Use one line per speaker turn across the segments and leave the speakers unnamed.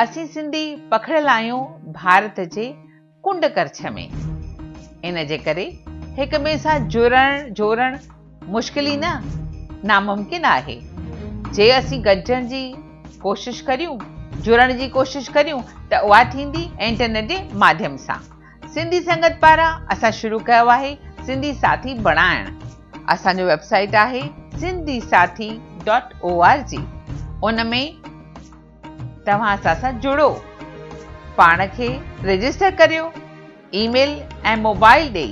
اسين سنڌي پکڙيل آهيون ڀارت جي ڪنڊ ڪرڇ ۾ ان جي ڪري هڪ ٻئي سان جڙڻ جوڙڻ مشڪل ئي نه ناممڪن آهي جي اسين گڏجڻ جي ڪوشش ڪريون جڙڻ جي ڪوشش ڪريون ته اها ٿيندي انٽرنيٽ جي ماڌيم سان سنڌي سنگت پاران اسان شروع ڪيو آهي سنڌي ساٿي بڻائڻ اسان جو ويب سائيٽ آهي Sindhi Sathi dot O R G ان ۾ توهان اسان سان جڙو پاڻ کي رجسٽر ڪريو اي ميل ۽ موبائل ڏئي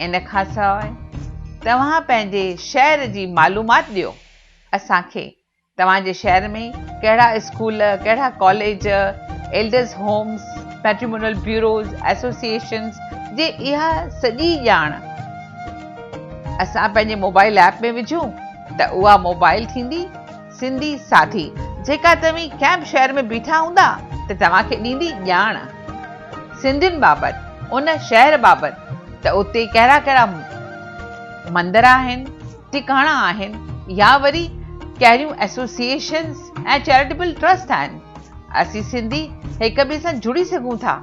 ان کان سواء توهان پنهنجي شهر جي معلومات ڏيو اسان کي توهان جي شهر ۾ ڪهڙا اسڪول ڪهڙا college elders homes patrimonial bureaus associations جي اها سڄي ڄاڻ اسان پنهنجي موبائل ايپ ۾ وجهون ته اها موبائل ٿيندي سنڌي ساڌي جيڪا توهين ڪنهن به شهر ۾ بيٺا هوندا ته توهان کي ڏيندي ڄاڻ سنڌين بابت ان شهر بابت ته اتي ڪهڙا ڪهڙا مندر آهن ٽڪاڻا آهن يا وري ڪهڙيون ايسوسيئيشنز ۽ چيريٽيبل ٽرسٽ آهن اسين سنڌي هڪ ٻئي سان جڙي سگهون ٿا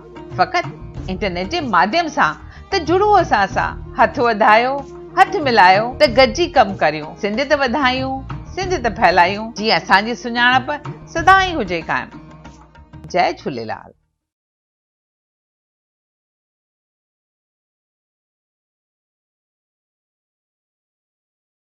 فقط انٽرنيٽ جي ماڌيم سان ته جڙو اسان سان، هٿ وڌايو، هٿ ملايو ته گڏجي ڪم ڪريون، سنڌ ته وڌايون، سنڌ ته ڦهلايون، جيئن اسان جي سڃاڻپ سدائين هجي قائم. جئه جهوليلال.